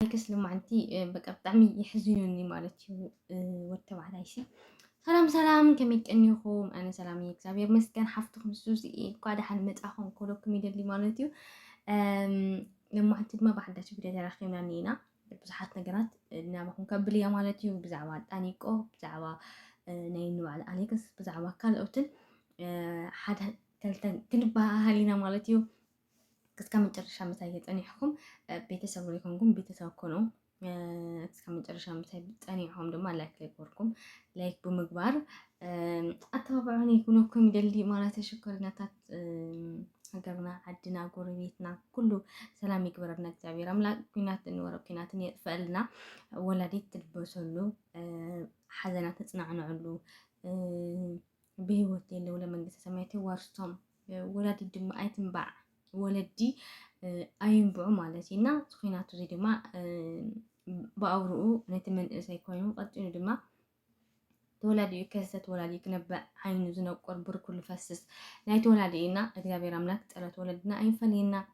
ኣይከስ ልማንቲ በቃ ብጣዕሚ የሕዝኑኒ ማለት እዩ ወዲ ተባዕታይ ሲ ሰላም ሰላም ከመይ ቀኒኹም ኣነ ሰላም እዩ እግዚኣብሔር መስገን ሓፍትኩም ሱዚ እኳ ደሓን መፃኹም ኮሎኩም ይደሊ ማለት እዩ ልማንቲ ድማ ብሓዳሽ ቪድዮ ተራኪብና ኒና ብዙሓት ነገራት ናባኹም ከብል እያ ማለት እዩ ብዛዕባ ጣኒቆ ብዛዕባ ናይ ንባዕል ኣሌክስ ብዛዕባ ካልኦትን ሓደ ክልተ ክንበሃሃሊና ማለት እዩ እስከ መጨረሻ ምሳይ ተጸኒሕኩም ቤተሰብ ዘይኮንኩም ቤተሰብ ኮኑ። እስከ መጨረሻ ምሳይ ጸኒሕኩም ድማ ላይክ ዘይኮንኩም ላይክ ብምግባር ኣተባብዑኒ ይኩነኩም ይደሊ ማለት ሽኮሪናታት ሃገርና ዓድና ጎረቤትና ኩሉ ሰላም ይግበረልና እግዚኣብሔር ኣምላክ ኩናት ንወረ ኩናትን የጥፈኣልና ወላዲት ትልበሰሉ ሓዘና ተፅናዕንዕሉ ብህይወት ዘለው ለመንግስተ ሰማያት የዋርስቶም፣ ወላዲት ድማ ኣይትንባዕ፣ ወለዲ ኣይንብዑ ማለት እዩ እና እዚ ኩናት እዚ ድማ ብኣውርኡ ነቲ መንእሰይ ኮይኑ ቀጢኑ ድማ ተወላዲ እዩ ከሰ ተወላዲ ክነብዕ ዓይኑ ዝነቁር ብርኩ ዝፈስስ ናይ ተወላዲ እዩና እግዚኣብሔር ኣምላክ ፀሎት ወለድና ኣይፈለየና።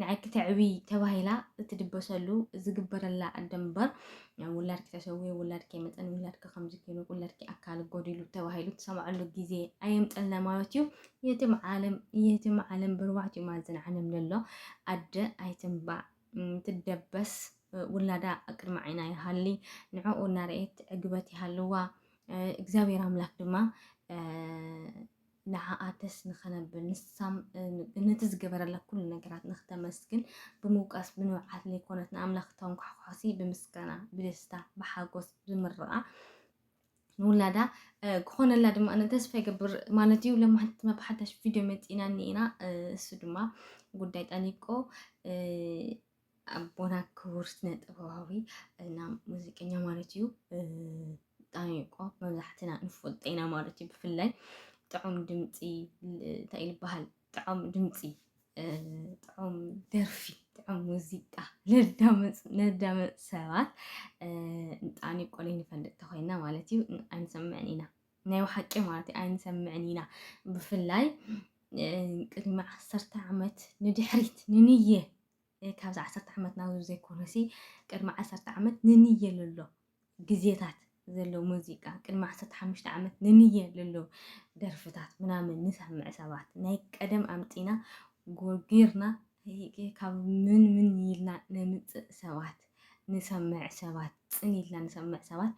ንዓይ ክተዕብይ ተባሂላ እትድበሰሉ ዝግበረላ ኣደ እምበር ውላድኪ ተሰዊኡ፣ ውላድኪ ኣይመፀን፣ ውላድኪ ከምዚ ኮይኑ፣ ውላድኪ ኣካል ጎዲሉ ተባሂሉ ትሰምዐሉ ግዜ ኣየምፀልና ማለት እዩ። የትም ዓለም የትም ዓለም ብርባዕቲኡ ማዕዘን ዓለም ዘሎ ኣደ ኣይትንባዕ ትደበስ ውላዳ ቅድሚ ዓይና ይሃሊ ንዕኡ እናርኣየት ዕግበት ይሃልዋ እግዚኣብሔር ኣምላክ ድማ ንዓኣተስ ንኸነብል ንሳም ነቲ ዝገበረላ ኩሉ ነገራት ንክተመስግን ብምውቃስ ብንብዓት ለይኮነት ንኣምላኽ ክተንኳሕኳሕሲ ብምስጋና ብደስታ ብሓጎስ ዝምርቓ ንውላዳ ክኾነላ ድማ ኣነ ተስፋ ይገብር ማለት እዩ። ለማሕንቲ ድማ ብሓዳሽ ቪድዮ መፂእና እኒኢና እሱ ድማ ጉዳይ ጠኒቆ ኣቦና ክቡር ስነ ጥበባዊ እና ሙዚቀኛ ማለት እዩ ብጣዕሚ እኮ መብዛሕትና ንፈልጦ ኢና ማለት እዩ ብፍላይ ጥዑም ድምፂ እንታይ ይበሃል ጥዑም ድምፂ ጥዑም ደርፊ ጥዑም ሙዚቃ ነዳመፅ ሰባት ብጣዕሚ ቆልይ ንፈልጥ ተኮይና ማለት እዩ ኣይንሰምዕን ኢና ናይ ብሓቂ ማለት እዩ ኣይንሰምዕን ኢና ብፍላይ ቅድሚ ዓሰርተ ዓመት ንድሕሪት ንንየ ካብዚ ዓሰርተ ዓመት ናብዚ ዘይኮነሲ ቅድሚ ዓሰርተ ዓመት ንንየ ልሎ ግዜታት ዘሎ ሙዚቃ ቅድሚ ዓሰርተ ሓሙሽተ ዓመት ንንየ ልሎ ደርፍታት ምናምን ንሰምዕ ሰባት ናይ ቀደም ኣምፂና ጎርጊርና ካብ ምን ምን ኢልና ነምፅእ ሰባት ንሰምዕ ሰባት ጽን ኢልና ንሰምዕ ሰባት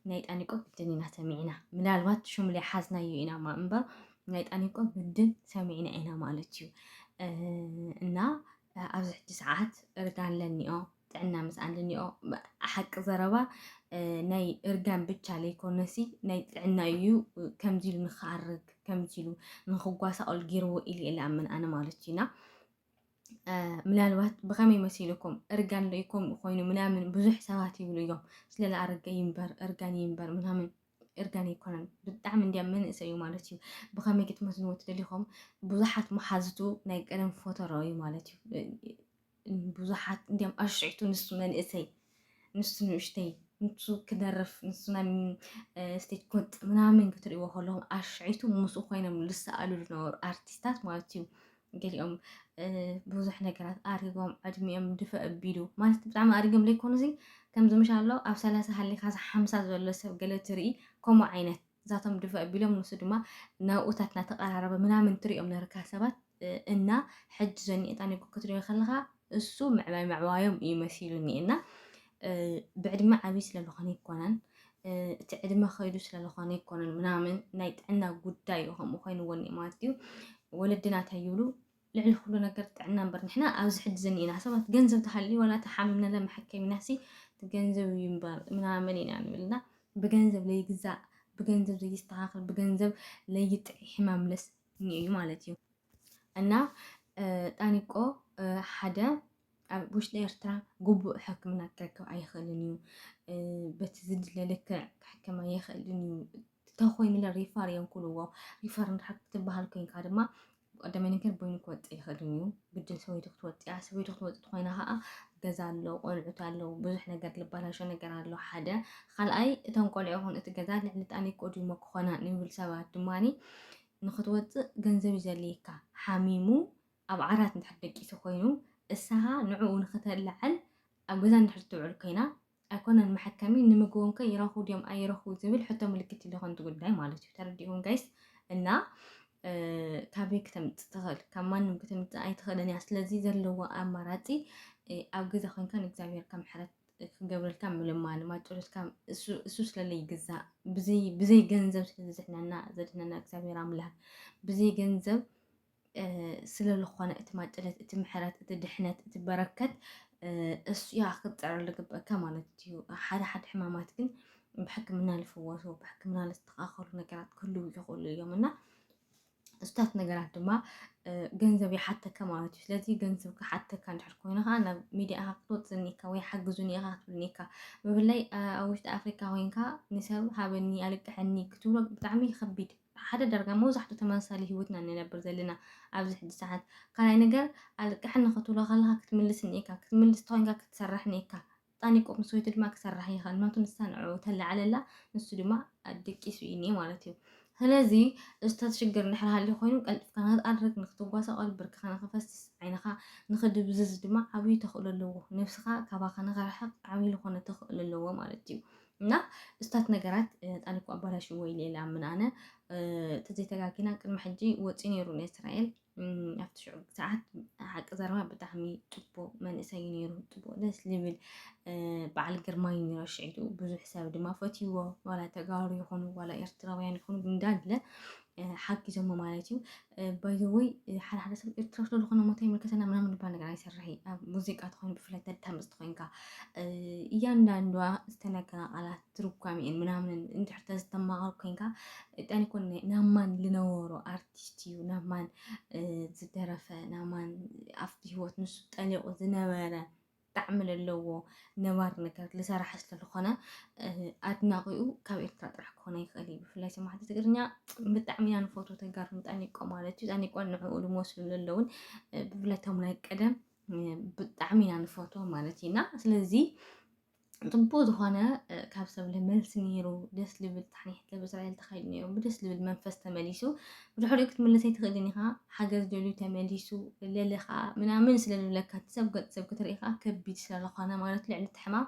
ናይ ጣኒቆ ግድን ኢና ሰሚዕና ምናልባት ሹም ላይ ሓዝናዮ ኢና ማ እምበር ናይ ጣኒቆ ግድን ሰሚዕና ኢና ማለት እዩ እና ኣብዚ ሕጂ ሰዓት እርጋን ለኒኦ ጥዕና ምስኣን ለኒኦ ሓቂ ዘረባ ናይ እርጋን ብቻ ለይኮነሲ ናይ ጥዕና እዩ ከምዚ ኢሉ ንክኣርግ ከምዚ ኢሉ ንክጓሳቀል ገይርዎ ኢሉ እየ ዝኣምን ኣነ ማለት እዩና ምናልባት ብኸመይ መሲልኩም እርጋን ዶ ከምኡ ኮይኑ ምናምን ብዙሕ ሰባት ይብሉ እዮም ስለላ ኣረገ ይንበር እርጋን ይንበር ምናምን እርጋን ኣይኮነን ብጣዕሚ እንዲያ መንእሰይ እዩ ማለት እዩ ብኸመይ ክትመስልዎ ትደሊኹም ብዙሓት መሓዝቱ ናይ ቀደም ፎተሮ እዩ ማለት እዩ ብዙሓት እንዲያም ኣሽዒቱ ንሱ መንእሰይ ንሱ ንእሽተይ ንሱ ክደርፍ ንሱ ናይ ስቴጅ ኮጥ ምናምን ክትሪእዎ ከለኹም ኣሽዒቱ ምስኡ ኮይኖም ዝሰኣሉ ዝነበሩ ኣርቲስታት ማለት እዩ። ገሊኦም ብዙሕ ነገራት ኣሪጎም ዕድሚኦም ድፈ ኣቢሉ ማለት ብጣዕሚ ኣሪጎም ዘይኮኑ እዚ ከምዚ ምሻሎ ኣብ ሰላሳ ሃሊኻ ሓምሳ ዘሎ ሰብ ገለ ትርኢ ከምኡ ዓይነት ንሳቶም ድፍእ ኣቢሎም ንሱ ድማ ናብኡታት እናተቐራረበ ምናምን ትሪኦም ነርካ ሰባት እና ሕጂ ዘኒኤጣ ኒጎ ክትሪኦ ከለኻ እሱ ምዕባይ ምዕባዮም እዩ መሲሉኒ እና ብዕድመ ዓብዪ ስለዝኾነ ይኮነን እቲ ዕድመ ከይዱ ስለዝኾነ ይኮነን ምናምን ናይ ጥዕና ጉዳይ እዩ ከምኡ ኮይኑዎ እኒኤ ማለት እዩ ወለድና እንታይ ይብሉ ልዕሊ ኩሉ ነገር ጥዕና እምበር ንሕና ኣብዚ ሕጂ ዝኒኤና ሰባት ገንዘብ ተሃልዩ ዋላ እቲ ሓሚምና ለ መሐከሚናሲ እቲ ገንዘብ እዩ እምበር ምናምን ኢና ንብል እና ብገንዘብ ለይግዛእ ብገንዘብ ዘይስተኻኸል ብገንዘብ ለይጥዒ ሕማም ለስ እዩ ማለት እዩ እና ጣኒቆ ሓደ ኣብ ውሽጢ ኤርትራ ግቡእ ሕክምና ክረክብ ኣይኽእልን እዩ በቲ ዝድለ ልክዕ ክሕከም ኣይኽእልን እዩ ተኮይኑ ሪፋር እዮም ክብልዎ ሪፋር እንድሕር ክትበሃል ኮይንካ ድማ ቀደመ ነገር በይኑ ክወፅ ኣይኽእልን እዩ ግድን ሰበይቱ ክትወፅ እያ ሰበይቱ ክትወፅ ኮይና ከዓ ገዛ ኣሎ ቆልዑት ኣለዉ ብዙሕ ነገር ልባላሾ ነገር ኣሎ ሓደ ካልኣይ እቶም ቆልዑ ይኹን እቲ ገዛ ልዕሊ ጣኒ ቆዲሞ ክኾና ንብል ሰባት ድማኒ ንክትወፅእ ገንዘብ ይዘልየካ ሓሚሙ ኣብ ዓራት እንድሕር ደቂሱ ኮይኑ እሳኻ ንዕኡ ንክተላዕል ኣብ ገዛ እንድሕር ትውዕል ኮይና ኣይኮነን መሐከሚ ንምግቦም ከ ይረኽቡ ድዮም ኣይረኽቡ ዝብል ሕቶ ምልክት ኢሉ ከምቲ ጉዳይ ማለት እዩ ተረዲእኩም ጋይስ እና ካበይ ክተምፅእ ትኽእል ካብ ማንም ክተምፅእ ኣይትኽእልን እያ ስለዚ ዘለዎ ኣማራፂ ኣብ ገዛ ኮንካ ንእግዚኣብሔር ከም ሕረት ክገብረልካ ምልማን ማጨሎትካ እሱ ስለለ ይግዛእ ብዘይ ገንዘብ ስለዘድሕነና ዘድሕነና እግዚኣብሔር ኣምላክ ብዘይ ገንዘብ ስለልኾነ እቲ ማጨለት እቲ ምሕረት እቲ ድሕነት እቲ በረከት እሱያ ክትፅዕር ልግበእካ ማለት እዩ። ሓደ ሓደ ሕማማት ግን ብሕክምና ልፍወሱ ብሕክምና ልስተኻኸሉ ነገራት ክህልው ይኽእሉ እዮም እና እሱታት ነገራት ድማ ገንዘብ ይሓተካ ማለት እዩ። ስለዚ ገንዘብ ክሓተካ እንድሕር ኮይኑ ከዓ ናብ ሚዲያ ኢኻ ክትወፅእ እኒካ ወይ ሓግዙኒ ኢኻ ክትብል እኒካ ብፍላይ ኣብ ውሽጢ ኣፍሪካ ኮይንካ ንሰብ ሃበኒ ኣልቅሐኒ ክትብሎ ብጣዕሚ ከቢድ ሓደ ዳርጋ መብዛሕቱ ተመሳሳሊ ሂወት ኢና ንነብር ዘለና ኣብዚ ሕጂ ሰዓት ካልኣይ ነገር ኣልቅሕኒ ክትብሎ ከለካ ክትምልስኒ ኢካ ክትምልስ ተኮንካ ክትሰርሕኒ ኢካ ጣኒቆ ምስ ወይቱ ድማ ክሰርሕ ይክእል ምክንያቱ ንሳ ንዕኡ ተላዕለላ ንሱ ድማ ኣድቂሱ ኢኒ ማለት እዩ ስለዚ እዝታት ሽግር እንድሕር ሃልዩ ኮይኑ ቀልጥፍካ ንክትኣርግ ንክትጓሳቆል ብርክኻ ንክፈስስ ዓይንኻ ንክድብዝዝ ድማ ዓብዩ ተኽእሎ ኣለዎ ነብስኻ ካባኻ ንክርሕቅ ዓብዩ ልኾነ ተኽእሎ ኣለዎ ማለት እዩ እና እስታት ነገራት ጣሊኩ ኣባላሽ ወይ ሌላ ምን ኣነ ተዘይተጋጊና ቅድሚ ሕጂ ወፂ ነይሩ ንእስራኤል ኣብቲ ሽዑ ሰዓት ሓቂ ዘረባ ብጣዕሚ ፅቡቅ መንእሰይ ነይሩ ፅቡቅ ደስ ዝብል በዓል ግርማይ ነይሮ ሽዒቱ ብዙሕ ሰብ ድማ ፈትይዎ ዋላ ተጋሩ ይኹኑ ዋላ ኤርትራውያን ይኹኑ እንዳለ ሓጊዞሞ ማለት እዩ ባይ ዘ ወይ ሓደ ሓደ ሰብ ኤርትራ ስለ ዝኾነ ሞት ኣይምልከተና ምናምን ዝባል ነገር ኣይሰርሕ ኣብ ሙዚቃ ተኾይኑ ብፍላይ ተዳምፅ ተኾይንካ እያንዳንዷ ዝተነገራ ቃላት ትርጓሜን ምናምንን እንድሕር ተዝተማሃር ኮንካ ጣን ይኮን ናብ ማን ዝነበሮ ኣርቲስት እዩ ናብ ማን ዝደረፈ ናብ ማን ኣብቲ ህይወት ንሱ ጠሊቑ ዝነበረ ጣዕሚ ለለዎ ነባሪ ነገር ልሰራሕ ስለልኾነ ኣድናቂኡ ካብ ኤርትራ ጥራሕ ክኾነ ይኽእል እዩ ብፍላይ ሰማዕቲ ትግርኛ ብጣዕሚ ኢና ንፈቱ ተጋሩ ንጠኒቆ ማለት እዩ ጠኒቆን ንዕኡ ልመስሉ ለለውን ብፍላይ ቶም ናይ ቀደም ብጣዕሚ ኢና ንፈትዎ ማለት እዩና ስለዚ ጽቡቅ ዝኾነ ካብ ሰብ ልመልሲ ነይሩ ደስ ልብል ታሕኒሕት ለብ እስራኤል ተኻይዱ ነይሩ ብደስ ልብል መንፈስ ተመሊሱ ብድሕሪኡ ክትምለስ ኣይትኽእልን ኢኻ፣ ሓገዝ ደልዩ ተመሊሱ ለለ ከኣ ምናምን ስለ ዝብለካ እቲ ሰብ ገጽ ሰብ ክትርኢ ከኣ ከቢድ ስለ ዝኾነ ማለት ልዕሊ እቲ ሕማም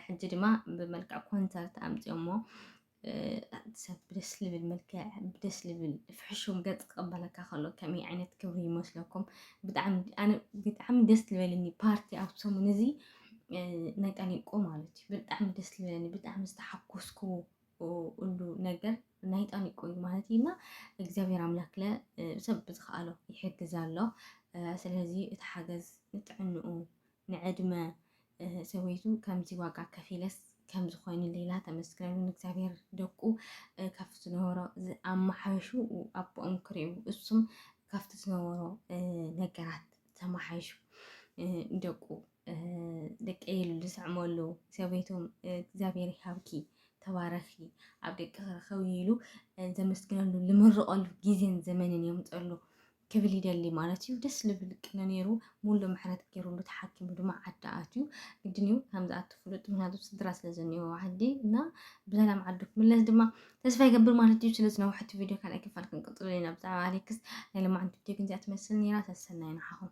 ሕጂ ድማ ብመልክዕ ኮንሰርት ኣምጺኦሞ ሰብ ብደስ ልብል መልክዕ ብደስ ልብል ፍሕሹም ገጽ ክቕበለካ ከሎ ከመይ ዓይነት ክብሪ ይመስለኩም? ብጣዕሚ ደስ ዝበለኒ ፓርቲ ኣብ ሰሙን እዚ ናይ ጠሊንቆ ማለት እዩ ብጣዕሚ ደስ ዝበለኒ ብጣዕሚ ዝተሓኮስኩዎ ኩሉ ነገር ናይ ጣኒቆ እዩ ማለት እዩ እና እግዚኣብሔር ኣምላክ ለ ሰብ ብዝከኣሎ ይሕግዝ ኣሎ ስለዚ እቲ ሓገዝ ንጥዕንኡ ንዕድመ ሰበይቱ ከምዚ ዋጋ ከፊለስ ከም ዝኾይኑ ሌላ ተመስገኑ ንእግዚኣብሔር ደቁ ካብቲ ዝነበሮ ኣመሓይሹ ኣቦኦም ክርዩ እሱም ካብቲ ዝነበሮ ነገራት ተመሓይሹ ደቁ ደቂ ኢሉ ዝስዕመሉ ሰበይቶም እግዚኣብሔር ይሃብኪ ተባረኺ ኣብ ደቂ ክረኸብ ኢሉ ዘመስግነሉ ዝምርቐሉ ግዜን ዘመንን የምፀሉ ክብል ይደሊ ማለት እዩ ደስ ልብል ቅነ ነይሩ ሙሉ ምሕረት ገይሩሉ ተሓኪሙ ድማ ዓዲ ኣትዩ ግድን እዩ ከምዚ ኣትፍሉጥ ምክንያቱ ስድራ ስለ ዘኒኦ ዓዲ እና ብሰላም ዓዱ ክምለስ ድማ ተስፋ ይገብር ማለት እዩ ስለ ዝነውሐቲ ቪድዮ ካልኣይ ክፋል ክንቅፅሉ ኢና ብዛዕባ ኣሌክስ ናይ ልማዓንቲ ቪድዮ ግን እዚኣ ትመስል ነይራ ሰሰናይ ንዓኹም